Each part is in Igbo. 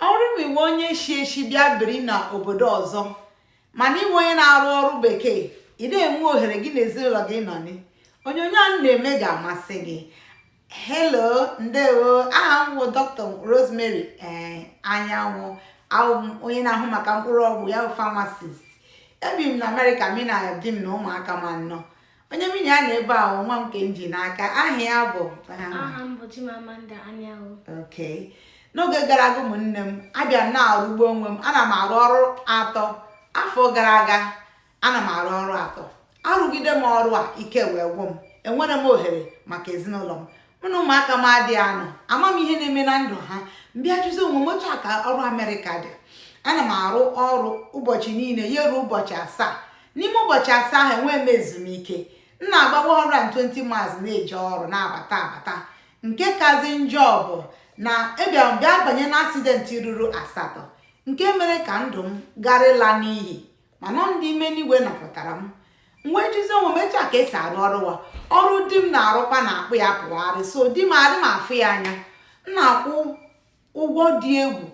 ọ bụrụ na ị wụ onye shi eshi bịa biri na obodo ọzọ mana ị wụ onye na-arụ ọrụ bekee ị dị enwe ohere gị na ezinụlọ gị nọ ni onyonyo a na-eme ga-amasị gị hello ndewo aha m bụ dr rosemary ee eh, anyanwụ a wụ m onye na-ahụ maka mkpụrụ ọgwụ ya bụ pharmacist ebi m na amerịka mụ na di m na ụmụaka m anọ onye mụ na ya nọ ebe a wụ nwa m nke m ji n'aka aha ya bụ aha m bụ Chimamanda Anyanwụ okay n'oge gara aga ụmụnne m abịa m na-arụgbu onwe m ana m arụ ọrụ atọ afọ gara aga ana m arụ ọrụ atọ arụgide m ọrụ a ike wee gwụ m enwerọ m ohere maka ezinụlọ m mụ na ụmụaka m adịghị anọ ama m ihe na-eme na ndụ ha m bịa jụzi onwe m otu a ka ọrụ amerịka dị ana m arụ ọrụ ụbọchị niile ya ruo ụbọchị asaa n'ime ụbọchị asaa ahụ enwee m ezumike m na-agba 120 miles na-eje ọrụ na-abata abata nke kazi njọ bụ na abịara m bịa banye na accident ruru asatọ nke mere ka ndụ m gara ịla n'iyi mana ọ ndị ime n'igwe napụtara m m wee jụzi onwe m etu a ka e si arụ ọrụ wa ọrụ di m na-arụkwa na-akpụ ya pụgharị so di m adị m afụ ya anya m na-akwụ ụgwọ dị egwu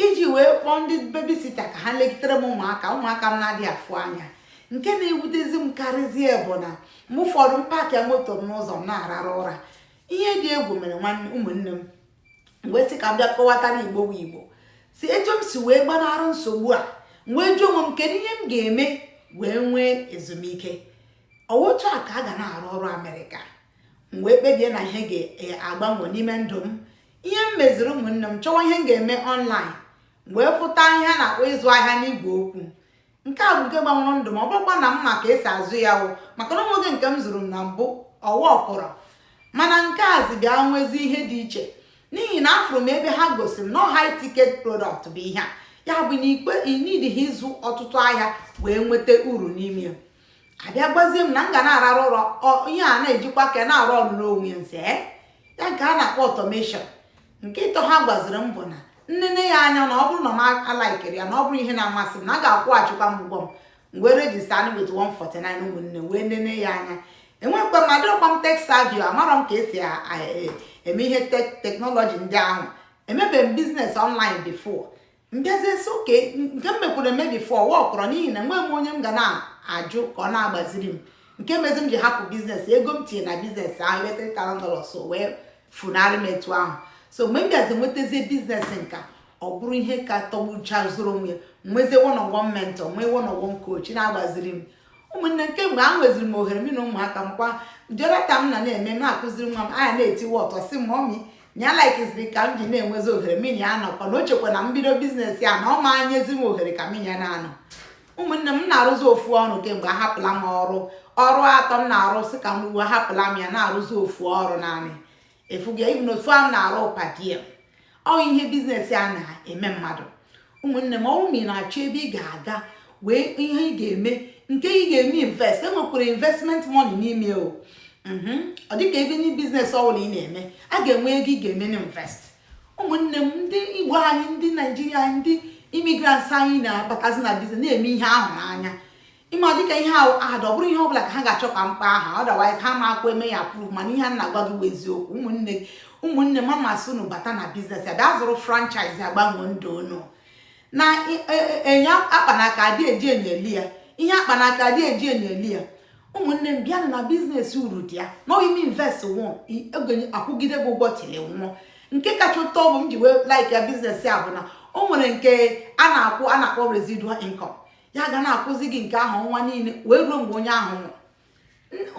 iji wee kpọọ ndị babysitter ka ha legidere m ụmụaka m na-adịghị afụ anya nke na-ewutezi m karịzie bụ na mgbe ụfọdụ m paakị moto m n'ụzọ m na-ararụ ụra ihe dị egwu mere ụmụnne m m wee sị ka m bịa kọwatara igbo bụ igbo si etu m si wee gbanara nsogbu a m wee jụọ onwe m kedu ihe m ga-eme wee nwee ezumike otu a ka a ga na-arụ ọrụ amerịka m wee kpebie na ihe ga-agbanwe n'ime ndụ m ihe m meziri ụmụnne m chọwa ihe m ga-eme online wee fụta ihe a na-akpọ ịzụ ahịa n'igwe okwu nke a bụ nke gbanwere ndụ m ọ bụrọkwa na m ma ka e si azụ ya wụ maka na o nwego nke m zụrụ m na mbụ ọ workụrọ mana nke a zi bịa nwezi ihe dị iche n'ihi na afụrụ m ebe ha gosi m na high ticket product bụ ihe a ya bụ nke ị needighị ịzụ ọtụtụ ahịa wee nweta uru n'ime ya a bịa gwazie m na m ga na-ararụ ụra ihe a na-ejikwa aka ya na-arụ ọrụ n'onwe ya nse eh? ya nke a na-akpọ automation nke ịtọ ha gwaziri m bụ na m nene ya anya na ọ bụrụ na m alikerọ ya na ọ bụrọ ihe na-amasị m na a ga-akwụghachikwa m ụgwọ m wee register only with 149 ụmụnne wee nene ya anya enwekwa m adịrọkwa m tech savvy o amarọ m ka e si e, eme ihe technology ndị ahụ emebeghị m business online before m bịazie sị okay nke m mekwuru eme before workụrọ n'ihi na enwe m onye m ga na-ajụ ka ọ na-agbaziri m nke mezi m ji hapụ business ego m tinye na business ahụ ebe 3000 dollars so wee funarị m etu ahụ so mgbe m bịazi nwetazie business nke a ọ bụrụ ihe ka tọgbucha zụrụ onwe nwezie one on one mentor nwee one on one coach na-agbaziri m ụmụnne m kemgbe a nweziri m ohere m na ụmụaka m kwa jonathan m na-eme m na-akụziri nwa m anya na-etiwe ọtọ sị mọmị na ya laikiziri ka m ji na-enwezi ohere mụ na ya anọkọ na o chekwa na mbido biznes a na ọ ma enyezi m ohere ka mụ na ya na-anọ ụmụnne m na-arụzi ofu ọrụ kemgbe ahapụla m ọrụ ọrụ atọ m na-arụ sị ka mbụ ahapụla m ya na-arụzi ofu ọrụ naanị efuga even ofu a m na-arụ per diem ọ ihe biznes a na-eme mmadụ ụmụnne m ọ wụ ma ị na-achọ ebe ị ga-aga wee ihe ị ga-eme nke ị ga-eme invest enwekwara investment money n'ime o mhm. ọ dịka ebe ndị biznes ọbụla ị na-eme a ga-enwe ego ị ga-eme na invest ụmụnne m ndị igbo anyị ndị naijiria ndị immigrants anyị na-abatazi na biznes na-eme ihe a hụ n'anya ịma dịka ihe ahụ adị ọ bụrọ ihe ọbụla ka ha ga-achọ ka m kpọọ aha otherwise ha amakwa eme ya approve mana ihe a na-agwa gị bụ eziokwu ụmụnne ụmụnne m a m asị unu bata na biznes a bịa zụrụ franchise a gbanwee ndụ unu na e, e, e, ihe a kpa n'aka adị eji enyo ele ya ihe a kpa n'aka adị eji enyo ele ya ụmụnne m bịanụ na biznes uru dị ya na i mee invest once ọ ga na-akwụgide gị ụgwọ till ị nwụọ nke kacha ụtọ bụ m ji wee like ya biznes a bụ na o nwere nke a na-akwụ a na-akpọ residual income ya ga na-akwụzi gị nke ahụ ọnwa niile wee ruo mgbe onye ahụ nwụrụ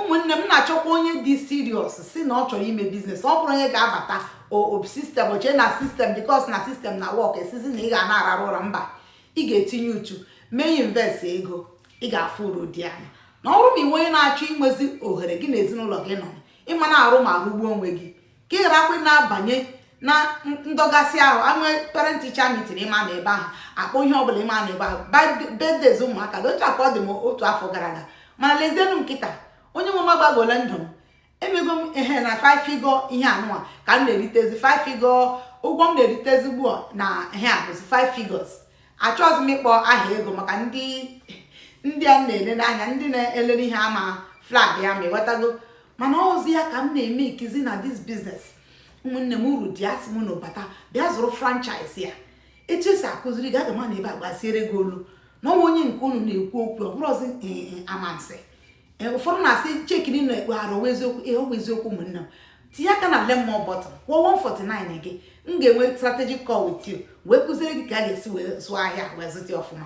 ụmụnne m na-achọkwa onye dị serious sị na ọ chọrọ ime biznes ọ bụrọ onye ga-abata system o chee na system because na system na-work asịzi na ị ga na-ararụ ụra mba ị ga-etinye uchu mee invest ego ị ga-afụ uru dị na ya na ọ bụrụ ma ị wụ onye na-achọ inwezi ohere gị na ezinụlọ gị nọ ị ma na-arụ ma rụgbuo onwe gị ka ị gharakwa na-abanye na ndọgasị ahụ e nwee parent teacher meeting ị ma anọ ebe ahụ a kpọọ ihe ọbụla ị ma anọ ebe ahụ birthdays ụmụaka gị otu a ka ọ dị m otu afọ gara aga mana lezienụ m kịta onye nwe m agbagola ndụ m emego m ehe na five figure ihe anụwa ka m na-eritezi five figure ụgwọ m na-eritezi ugbu a na ihe a bụzi five figures achọghịzi m ịkpọ aha ego maka ndị ndị a na-ele n'anya ndị na-elere ihe a ama flag ya ma ị ghọtago mana ọ zi ya ka m na-emekizi na this biznes ụmụnne m uru dị asị m unu bata bịa zụrụ franchise a etu e si akụziri gị aga m anọ ebe a gbaziere gị olu na ọnwa onye nke unu na-ekwu okwu ọ bụrọzi eh, eh, amansi eh, ụfọdụ na-asị cheki na ekpe arụ ọ wụ eziokwu ihe a ọ wụ eziokwu ụmụnne m tinye aka na learn more button kwụọ 149 gị m ga-enwe strategic call with you wee kụziere gị ka a ga-esi wee zụọ ahịa wee zụta ọfụma